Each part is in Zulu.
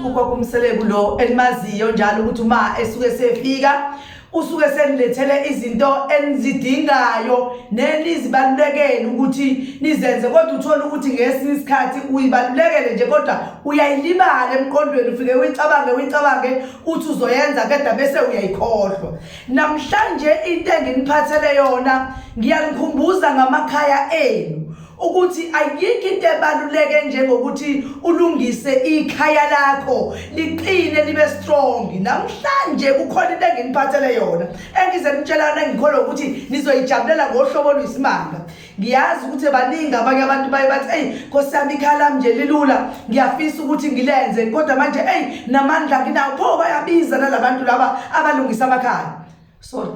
ukokumseleku lo elimaziyo njalo ukuthi uma esuke sefika usuke senilethele izinto enizidingayo nenizibalulekele ukuthi nizenze kodwa uthole ukuthi ngesinye isikhathi uyibalulekele nje kodwa uyayilibala emqondweni ufike uyicabange uyicabange uthi uzoyenza kade bese uyayikhohlwa namhlanje into enginiphathele yona ngiyanikhumbuza ngamakhaya enu ukuthi ayikho into ebaluleke njengokuthi ulungise ikhaya lakho liqine libe strong namhlanje kukhona into enginiphathele yona engize nitshelana ngikholwa ukuthi nizoyijabulela ngohlobo oluyisimanga ngiyazi ukuthi baningi abanye abantu baye bathi eyi nkosi yami ikhala mnje lilula ngiyafisa ukuthi ngilenze kodwa manje eyi namandla nginawo pho bayabiza nalabantu laba abalungisa amakhaya sorry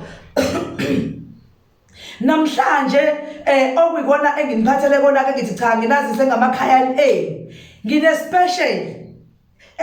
namhlanje eh okuyikona enginiphathele kona ke ngithi cha nginazise ngamakhaya enu nginespecial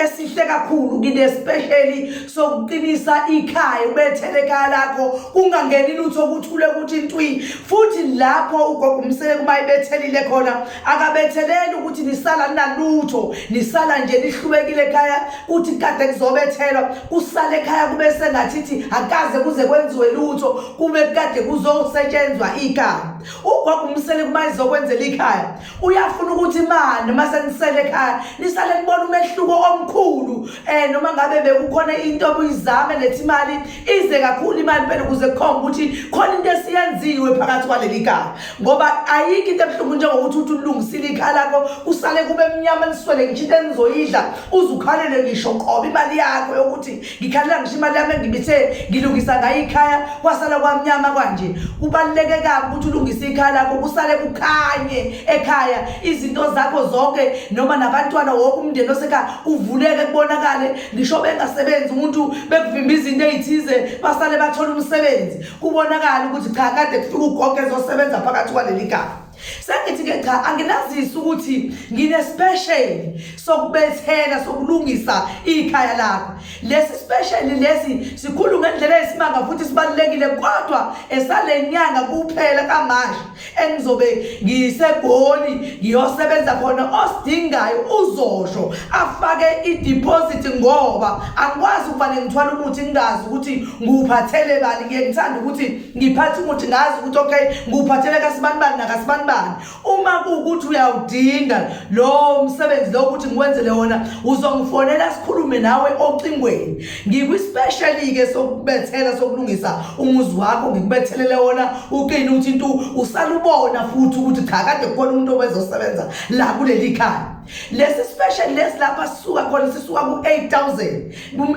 esihle kakhulu kini especially sokuqinisa ikhaya ubethele ekhaya lakho kungangeni lutho ukuthule ukuthi ntwi futhi lapho ugogo umseleku uma ebethelile khona akabetheleli ukuthi nisala ninalutho nisala nje nihlubekile ekhaya kuthi kade kuzobethelwa kusale ekhaya kube sengathithi akaze kuze kwenziwe lutho kube kade kuzosetshenzwa ikhaya ugogo umseleku uma izokwenzela ikhaya uyafuna ukuthi imani uma senisele ekhaya nisale nibona umehluko omkhulu um noma ngabe bekukhona into obuyizame lethi imali ize kakhulu imali phela ukuze kukhomba ukuthi khona into esiyenziwe phakathi kwaleli gama ngoba ayikho into ebuhlungu njengokuthi uthi ulungisile ikhaya lakho usale kube mnyama niswele ngisho into enizoyidla uze ukhalele ngisho qoba imali yakho yokuthi ngikhalela ngisho imali yami engibithe ngilungisa ngayo ikhaya kwasala kwamnyama kwanje kubaluleke kabi ukuthi ulungise ikhaya lakho kusale kukhanye ekhaya izinto zakho zonke noma nabantwana wonke umndeni osekhaya uvuleke kubonakale ngisho bengasebenzi umuntu bekuvimba izinto ey'thize basale bathola umsebenzi kubonakale ukuthi cha kade kufika ugogo ezosebenza phakathi kwaleli gaba sengithi-ke cha anginazisi ukuthi nginesipesheli sokubethela sokulungisa ikhaya lakho lesi sipesheli lesi sikhulu ngendlela esimanga futhi sibalulekile kodwa esale nyanga kuphela kamanje engizobe ngisegoli ngiyosebenza khona osidingayo uzosho afake idiphozithi ngoba angikwazi ukuvane ngithwala umuthi ngingazi ukuthi ngiwuphathele bani ngiye ngithanda ukuthi ngiphathe umuthi ngazi ukuthi okay nguphathele kasibanibani nakasibanibani uma kuwukuthi uyawudinga lowo msebenzi lowo ukuthi ngiwenzele wona uzongifonela sikhulume nawe ocingweni ngikwispeshali-ke sokubethela sokulungisa umuzi wakho ngikubethelele wona uqine ukuthi into usalubona futhi ukuthi cha kade kukhona umuntu obezosebenza la kuleli khaya lesi special lesi lapha sisuka khona sisuka ku-8000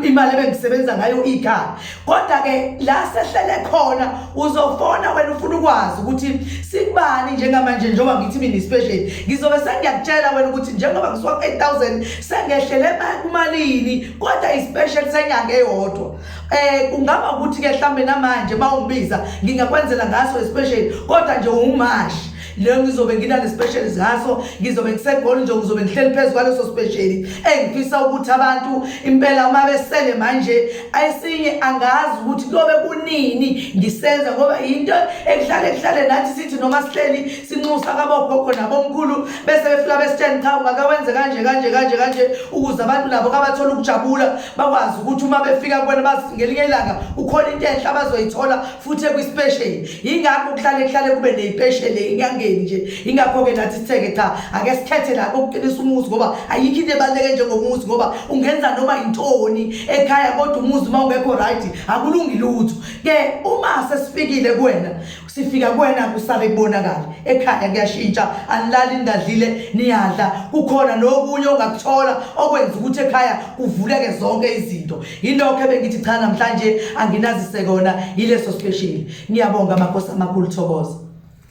imali ebengisebenza ngayo ikhaya kodwa-ke la sehlele khona uzofona wena ufuna ukwazi ukuthi sikubani njengamanje njengoba ngithi mina ispecial ngizobe sengiyakutshela wena ukuthi njengoba ngisuka ku-8000 sengehlele kumalini kodwa ispecial senyanga eyodwa eh kungaba ukuthi-ke mhlawumbe namanje uma ungibiza ngingakwenzela ngaso ispecial kodwa nje ungumashi leyo ngizobe nginale special zaso ngizobe ngisegoli nje ngizobe ngihleli phezu kwaleso special engifisa ukuthi abantu impela uma besele manje ayisinye angazi ukuthi kuyobe kunini ngisenza ngoba yinto ekuhlale kuhlale nathi sithi noma sihleli sinxusa kabogogo nabomkhulu bese befika besitsheni cha ungakawenze kanje kanje kanje kanje ukuze abantu nabo kabathola ukujabula bakwazi ukuthi uma befika kubona bazi ngelinye ilanga ukhona into enhle abazoyithola futhi ekwisipesheli yingakho kuhlale kuhlale kube neyipesheli ingangeni nje ingakho-ke nathi sitheke cha ake sikhethe la kokuqinisa umuzi ngoba ayikho into ebaluleke njengomuzi ngoba ungenza noma yintoni ekhaya kodwa umuzi uma ungekho right akulungi lutho ke uma sesifikile kuwena sifika kuwena kusale kubonakala ekhaya kuyashintsha anilali nidadlile niyadla kukhona nokunye ongakuthola okwenza ukuthi ekhaya kuvuleke zonke izinto Yilokho ebengithi cha namhlanje anginazisekona yileso special. Ngiyabonga makhosi amakhulu thokoza.